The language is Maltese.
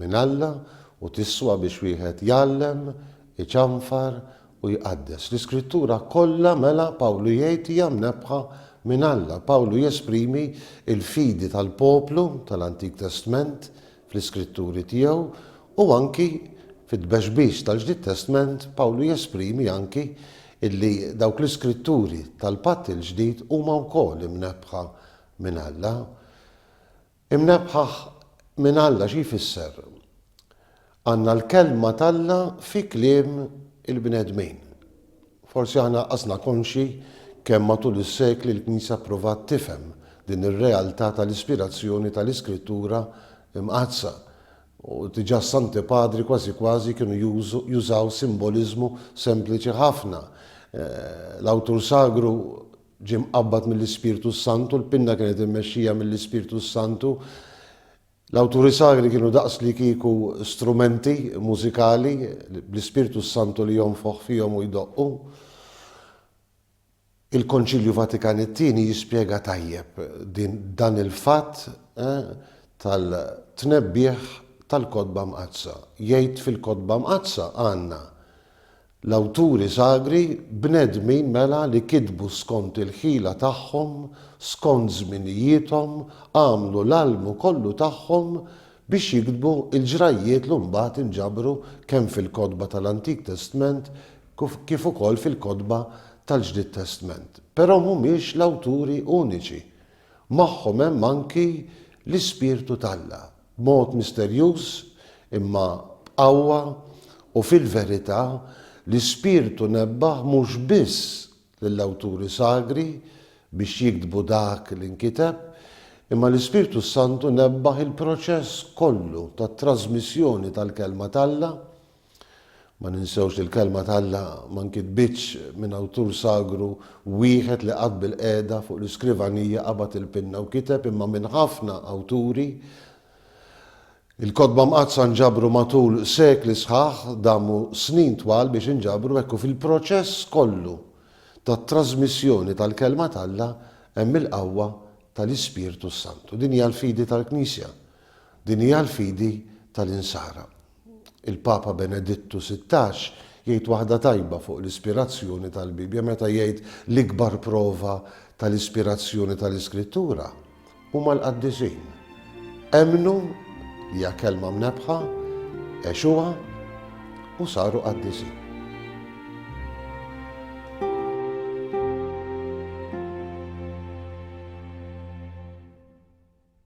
minn Alla u tiswa biex wieħed jgħallem, iċanfar u jqaddes. L-Iskrittura kollha mela Pawlu jgħid hija mnebbħa minn Alla. Pawlu jesprimi l-fidi tal-poplu tal-Antik Testment fl-iskritturi tiegħu u anki fit-tbexbix tal-Ġdid Testment Pawlu jesprimi anki illi dawk l-iskritturi tal-Patt il-Ġdid huma wkoll imnebbħa minn Alla. Imnebbħaħ minn Alla xi jfisser? Għandna l-Kelma t'Alla fi kliem il-bnedmin. Forsi aħna qasna konxji kemm matul is-sekli l-Knisja ppruvat tifhem din ir-realtà tal-ispirazzjoni tal-Iskrittura Mqaddsa, u diġà s-Santi Padri kważi kważi kienu jużaw simboliżmu sempliċi ħafna, l-awtur sagru Ġie mqabbad mill-Ispirtu s-Santu, l-pinna kienet immexxija mill-Ispirtu s-Santu. L-awturi sagri kienu daqs li kieku strumenti mużikali bl-Ispirtu s-Santu li jonfoħ fihom u jdoqqu. Il-Konċilju Vatikan it-Tieni jispjega tajjeb din dan il-fatt tal-tnebbiħ tal-Kotba Mqaddsa. Jgħid fil-Kotba Mqaddsa għandna L-awturi sagri, bnedmin mela li kitbu skont il-ħila tagħhom, skont żminijiethom, għamlu l-almu kollu tagħhom biex jiktbu l-ġrajjiet lu mbagħad inġabru kemm fil-kotba tal-Antik Testment kif ukoll fil-kotba tal-Ġdid Testment. Però mhumiex l-awturi uniċi. Magħhom hemm anki l-Ispirtu t'Alla. B'mod misterjuż, imma b'qawwa u fil-verità, l-Ispirtu nebbaħ mhux biss lill-awturi sagri biex jiktbu dak li nkiteb, imma l-Ispirtu s-Santu nebbaħ il-proċess kollu tat-trażmissjoni tal-Kelma t'Alla, Ma ninsewx li l-Kelma t'Alla ma nkitbitx minn awtur sagru wieħed li qatt bilqiegħda fuq l-iskrivanija qabad il-pinna u kiteb imma minn ħafna awturi. Il-Kotba Mqaddsa nġabru matul sekli sħaħ, damu snin twal biex inġabru hekk u fil-proċess kollu tat-trażmissjoni tal-Kelma t'Alla hemm il-qawwa tal-Ispirtu s-Santu. Din hija l-fidi tal-Knisja. Din hija l-fidi tal-Insara. Il-Papa Benedittu Sittax jgħid waħda tajba fuq l-ispirazzjoni tal-Bibbja meta jgħid l-ikbar prova tal-ispirazzjoni tal-Iskrittura huma l-qaddisin. Emmnu li hija kelma mnebbħa, għexuha u saru qaddisin.